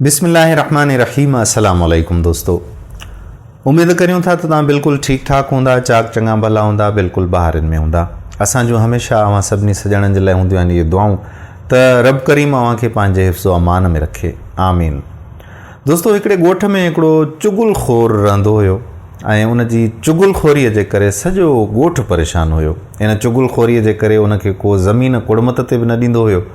بسم الله الرحمٰن الرحيم السلام عليڪم دوستو اميد ڪريون ٿا ته توهان بلڪل ٺيڪ ٺاڪ هوندا چاڪ چڱا ڀلا هوندا بلڪل بهارين ۾ هوندا اسان جون هميشه اوهان سڀني سڄڻن جي لاء هونديون آهن اهي دعائون ته رب ڪريم اوهان کي پنهنجي حفظ و امان ۾ رکي آمين دوستو هڪڙي ڳوٺ ۾ هڪڙو چغل خور رهندو هيو ۽ ان جي چغل خوري جي ڪري سڄو ڳوٺ پريشان هيو ان چغل خوري جي ڪري ان کي ڪو زمين ڪڙمت تي به نه ڏيندو هيو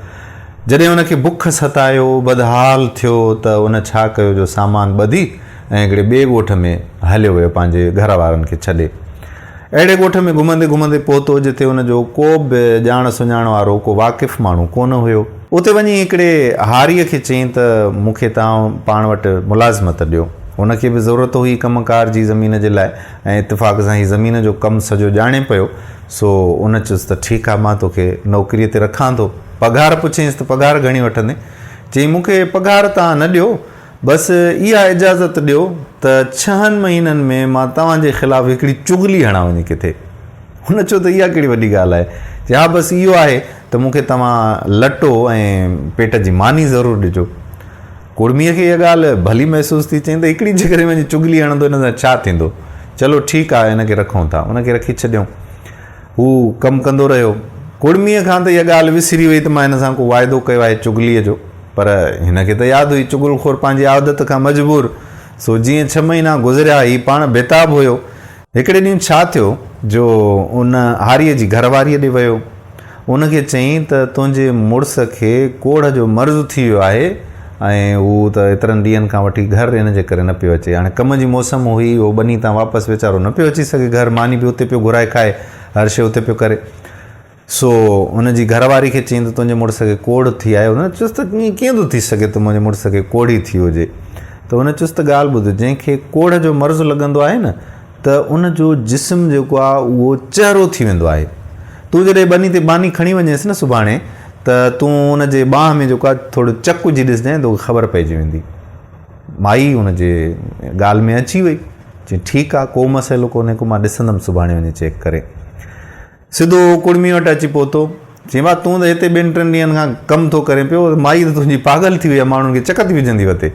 جڏهن ان کي بک ستايو، بدحال ٿيو ته ان ڇا ڪيو جو سامان ٻڌي ۽ هڪڙي ٻئي ڳوٺ ۾ هليو ويو پنهنجي گهر وارن کي ڇڏي. اهڙي ڳوٺ ۾ گهمندي گهمندي پهتو جتي ان جو ڪو به ڄاڻ سڃاڻ وارو ڪو واقف ماڻهو ڪونه هيو. اتي وڃي هڪڙي هاريء کي چيائين ته مون کي توهان پاڻ وٽ ملازمت ڏيو. هن کي به ضرورت هئي ڪم ڪار جي زمين جي لاء. ۽ اتفاق سان هي زمين جو ڪم سڄو ڄاڻي پيو، سو ان چيس ته ٺيڪ آ مان توکي نوڪريء تي رکان ٿو. پگهار پڇيس ته پگهار گهڻي وٺندين؟ چيائين مون کي پگهار توهان نه ڏيو، بس اها اجازت ڏيو ته ڇهن مهينن ۾ مان توهان جي خلاف هڪڙي چغلي هڻان وڃي ڪٿي. هن چيو ته اها ڪهڙي وڏي ڳالهه آهي؟ چيائين ها بس اهو آهي ته مون کي توهان لٽو ۽ پيٽ جي ماني ضرور ڏجو. ڪڙميء کي اها ڳالهه ڀلي محسوس ٿي، چيائين ته هڪڙي جيڪڏهن وڃي چغلي هڻندو هن سان ڇا ٿيندو؟ چلو ٺيڪ آهي هن کي رکون ٿا. ان کي رکي ڇڏيائون. هو ڪم ڪندو رهيو. ڪڙميء کان ته اها ڳالهه وسري وئي ته مان هن سان ڪو واعدو ڪيو آهي چغليء جو. پر هن کي ته ياد هئي. چغل خور پنهنجي عادت کان مجبور سو جيئن ڇهه مهينا گذريا هي پاڻ بيتاب هيو. هڪڙي ڏينهن ڇا ٿيو جو ان هاريء جي گهر واريء ڏي ويو. ان کي چيائين ته تنهنجي مڙس کي ڪوڙهه جو مرض ٿي ويو آهي ۽ هو ته ايترن ڏينهن کان وٺي گهر ان جي ڪري نه پيو اچي. هاڻي ڪم جي موسم هئي، هو ٻني تان واپس ويچارو نه پيو اچي سگهي گهر. ماني به اتي پيو گهرائي کائي، هر شيء اتي پيو ڪري. سو ان جي گهر واري کي چيائين ته تنهنجي مڙس کي ڪوڙهه ٿي آهي. هن چيس ته ائين ڪيئن ٿو ٿي سگهي ته منهنجي مڙس کي ڪوڙهي ٿي هجي. ته هن چيس ته ڳالهه ٻڌ، جنهن کي ڪوڙهه جو مرض لڳندو آهي نه ته ان جو جسم جيڪو آهي اهو چهرو ٿي ويندو آهي. تون جڏهن ٻني تي ٻانهي کڻي وڃيس نه سڀاڻي ته تون ان جي ٻانهن ۾ جيڪو آهي ٿورو چڪ وجهي ڏسجانء توکي خبر پئجي ويندي. مائي ان جي ڳالهه ۾ اچي وئي. چيائين ٺيڪ آهي ڪو مسئلو ڪونهي ڪو مان ڏسندم سڀاڻي وڃي چيڪ ڪري. سڌو ڪڙمي وٽ اچي پهتو. چيائين، ڀاء تون ته هتي ٻن ٽن ڏينهن کان ڪم ٿو ڪرين پيو، مائي ته تنهنجي پاڳل ٿي وئي آهي، ماڻهن کي چڪ ٿي وجهندي وتي.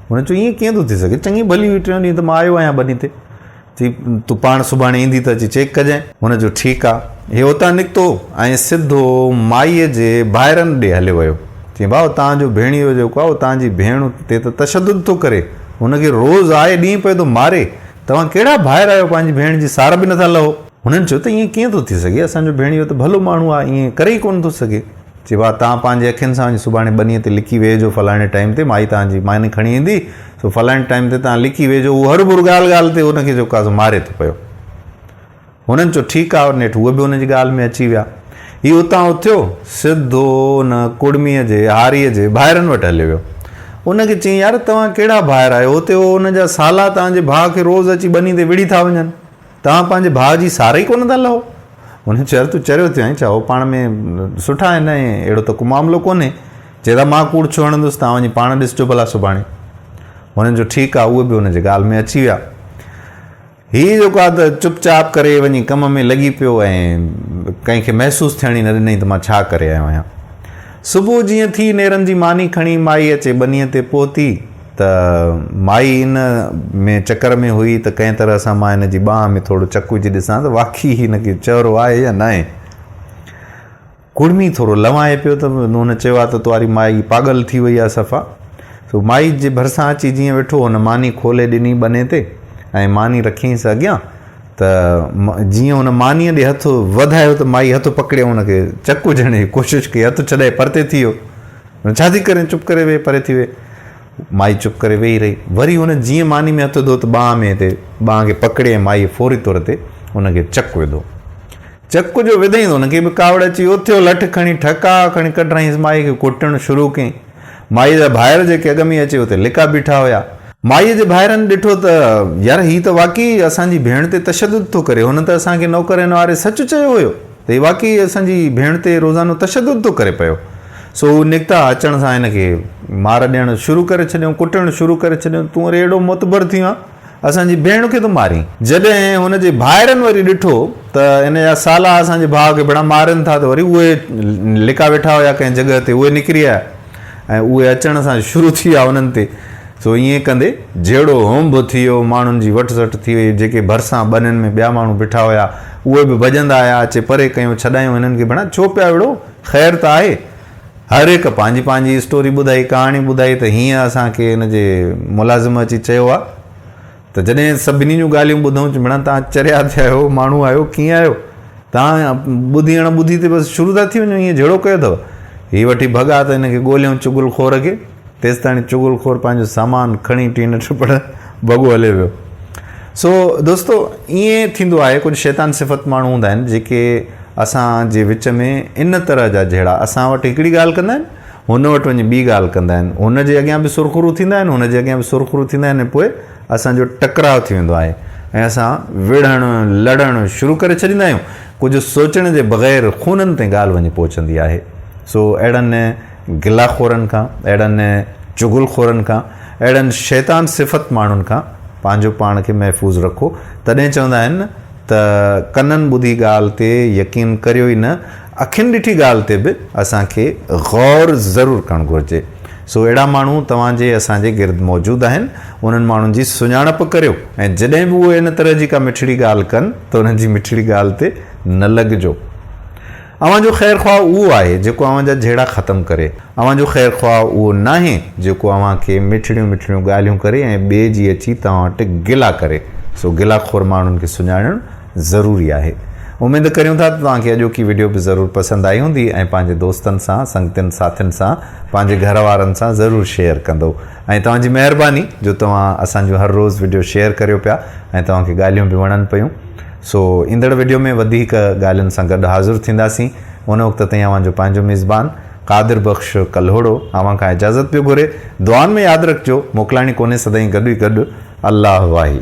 هن چيو، ائين ڪيئن ٿو ٿي سگهي، چڱي ڀلي هئي، ٽيون ڏينهن ته مان آيو آهيان ٻني تي. چيائين، تون پاڻ سڀاڻي ايندي ته اچي چيڪ ڪجانء. هن چيو، ٺيڪ آ. هي اتان نڪتو ۽ سڌو مائيء جي ڀائرن ڏي هليو ويو. چيائين، ڀاء تنهن جو ڀيڻيو جيڪو آهي، اهو تنهن جي ڀيڻ تي ته تشدد ٿو ڪري، هن کي روز آئي ڏينهن پئي ٿو ماري، توهان ڪهڙا ڀائر آهيو، پنهنجي ڀيڻ جي سار به نٿا لهو. هنن چيو ته ائين ڪيئن ٿو ٿي سگهي، اسان جو ڀيڻيو ته ڀلو ماڻهو آهي، ائين ڪري ئي ڪونه ٿو سگهي. چيو ها، توهان پنهنجي اکين سان وڃي سڀاڻي ٻنيء تي لڪي ويهجو، فلاڻي ٽائيم تي مائي توهان جي ماني کڻي ايندي، سو فلاڻي ٽائيم تي توهان لڪي ويهجو. هو هرڀر ڳالهه ڳالهه تي هن کي جو ڪازو ماري ٿو پيو. هنن چيو ٺيڪ آهي، نيٺ هو به هن جي ڳالهه ۾ اچي ويا. هي اتان اٿيو، سڌو ان ڪڙميء جي هاريء جي ڀائرن وٽ هليو ويو. ان کي چيائين يار توهان ڪهڙا ڀائر آهيو، هتي هو ان جا سالا توهان جي ڀاء کي روز اچي ٻني تي وڙهي ٿا وڃن. توهان پنهنجي ڀاء جي سار ئي ڪونه ٿا لهو. هن چيو، تون چريو ٿيو آهين ڇا؟ هو پاڻ ۾ سٺا آهن ۽ اهڙو ته ڪو معاملو ڪونهي. چئي ٿا مان ڪوڙ ڇو هڻندس؟ توهان وڃي پاڻ ڏسجو ڀلا سڀاڻي. هن جو ٺيڪ آهي، اهي به هن جي ڳالهه ۾ اچي ويا. هي جيڪو آهي ته چپ چاپ ڪري وڃي ڪم ۾ لڳي پيو ۽ ڪنهن کي محسوس ٿيڻ ئي نه ڏنائين ته مان ڇا ڪري آيو آهيان. صبح جيئن ٿي نيرن جي ماني کڻي مائي اچي ٻنيء تي پهتي. ته مائي ان ۾ چڪر ۾ هئي ته ڪنهن طرح سان مان هن جي ٻانهن ۾ ٿورو چڪ وجهي ڏسان ته واقعي هن کي چهرو آهي يا ناهي. ڪڙمي ٿورو لنوائي پيو ته هن چيو ها ته تنهاري مائي پاڳل ٿي وئي آهي صفا. سو مائي جي ڀرسان اچي جيئن ويٺو هن ماني کولي ڏني ٻني تي ۽ ماني رکيائينس اڳيان ته جيئن هن مانيء ڏي هٿ وڌايو ته مائي هٿ پڪڙيائون هن کي چڪ وجهڻ جي ڪوشش ڪئي هٿ ڇڏائي پرتي ٿي ويو. هن ڇا ٿي ڪرين؟ چپ ڪري ويهه، پري ٿي ويهه. مائي چپ ڪري ويهي رهي. وري هن جيئن ماني ۾ هٿ وڌو ته ٻانهن ۾ تي ٻانهن کي پڪڙي ۽ مائيء فوري طور تي هن کي چڪ وڌو. چڪ جو وڌئين ته هن کي به ڪاوڙ اچي ويو. اٿيو لٺ کڻي ٺڪاء کڻي ڪڍرائينس مائيء کي ڪٽڻ شروع ڪيائين. مائيء جا ڀائر جيڪي اڳ ۾ ئي اچي اتي لڪا بيٺا هيا. مائيء جي ڀائرن ڏٺو ته يار هي ته واقعي اسان جي ڀيڻ تي تشدد ٿو ڪري. هن ته اسان کي نوڪر هنواري سچ چيو هيو. ته هي واقعي اسان جي ڀيڻ تي روزانو تشدد ٿو ڪري پيو. سو هو نڪتا اچڻ سان هن کي مار ڏيڻ شروع ڪري ڇڏيائون، ڪٽڻ شروع ڪري ڇڏيائون، تون وري اهڙو معتبر ٿيو آهين، اسان جي ڀيڻ کي ٿو مارين. جڏهن هن جي ڀائرن وري ڏٺو ته هن جا سالا اسان جي ڀاء کي ڀيڻا مارين ٿا ته وري اهي لڪا ويٺا هيا ڪنهن جڳهه تي اهي نڪري آيا. ۽ اهي اچڻ سان شروع ٿي ويا انهن تي، سو ائين ڪندي جهيڙو هونڀ ٿي ويو، ماڻهن جي وٺ سٽ ٿي وئي، جيڪي ڀرسان ٻنين ۾ ٻيا ماڻهو بيٺا هيا، اهي به ڀڄندا آيا، اچي پري ڪيون، ڇڏايون هنن کي، ڀيڻا ڇو پيا وڙهو، خير ته آهي، هر هڪ پنهنجي پنهنجي اسٽوري ٻڌائي، ڪهاڻي ٻڌائي ته هينئن اسان کي هن جي ملازم اچي چيو آ، ته جڏهن سڀني جون ڳالهيون ٻڌئون چ ڀيڻا توهان چريا ٿي آهيو ماڻهو آهيو ڪيئن آهيو توهان ٻڌي اڻ ٻڌي تي بس شروع ٿا ٿي وڃو ائين جهيڙو ڪيو اٿو هي وٺي ڀڳا ته هن کي ڳوليئون چغل خور کي تيستاڻي چغل خور پنهنجو سامان کڻي ٽين ٽپڙ ڀڳو هليو ويو سو دوستو ائين ٿيندو آهي ڪجهه شيطان صفت ماڻهو هوندا آهن جيڪي اسان جي وچ ۾ ان طرح جا جهيڙا اسان وٽ هڪڙي ڳالهه ڪندا آهن هن وٽ وڃي ٻي ڳالهه ڪندا آهن. هن جي اڳيان به سرخرو ٿيندا آهن، هن جي اڳيان به سرخرو ٿيندا آهن ۽ پوء اسان جو ٽڪراء ٿي ويندو آهي ۽ اسان وڙهڻ، لڙڻ، شروع ڪري ڇڏيندا آهيون. ڪجهه سوچڻ جي بغير خونن تائين ڳالهه وڃي پهچندي آهي. سو اهڙن گلا خورن کان، اهڙن چغل خورن کان، اهڙن شيطان صفت ماڻهن کان پنهنجو پاڻ کي محفوظ رکو. تڏهن چوندا آهن نه ته ڪنن ٻڌي ڳالهه تي يقين ڪريو ئي نه. اکين ڏٺي ڳالهه تي به اسان کي غور ضرور ڪرڻ گهرجي. سو اهڙا ماڻهو توهان جي اسان جي گرد موجود آهن، انهن ماڻهن جي سڃاڻپ ڪريو ۽ جڏهن به اهي ان طرح جي ڪا مٺڙي ڳالهه ڪن ته انهن جي مٺڙي ڳالهه تي نه لڳجو. اوهان جو خير خواهه اهو آهي جيڪو اوهان جا جهيڙا ختم ڪري. اوهان جو خير خواهه اهو ناهي جيڪو اوهان کي مٺڙيون مٺڙيون ڳالهيون ڪري ۽ ٻئي جي اچي توهان وٽ گلا ڪري. سو گلا خور ماڻهن کي سڃاڻڻ ضروري آهي. اميد ڪريون ٿا ته توهان کي اڄوڪي وڊيو به ضرور پسند آئي هوندي ۽ پنهنجي دوستن سان، سنگتين ساٿين سان، پنهنجي گهر وارن سان ضرور شيئر ڪندو ۽ توهان جي مهرباني جو توهان اسان جون هر روز وڊيو شيئر ڪريو پيا ۽ توهان کي ڳالهيون به وڻن پيون سو ايندڙ وڊيو ۾ وڌيڪ ڳالهين سان گڏ حاضر ٿينداسين ان وقت تائين اوهان جو پنهنجو ميزبان قادر بخش ڪلهوڙو اوهان کان اجازت پيو گهري دعائن ۾ ياد رکجو موڪلاڻي ڪونهي سدائين گڏ ئي گڏ الله واهي.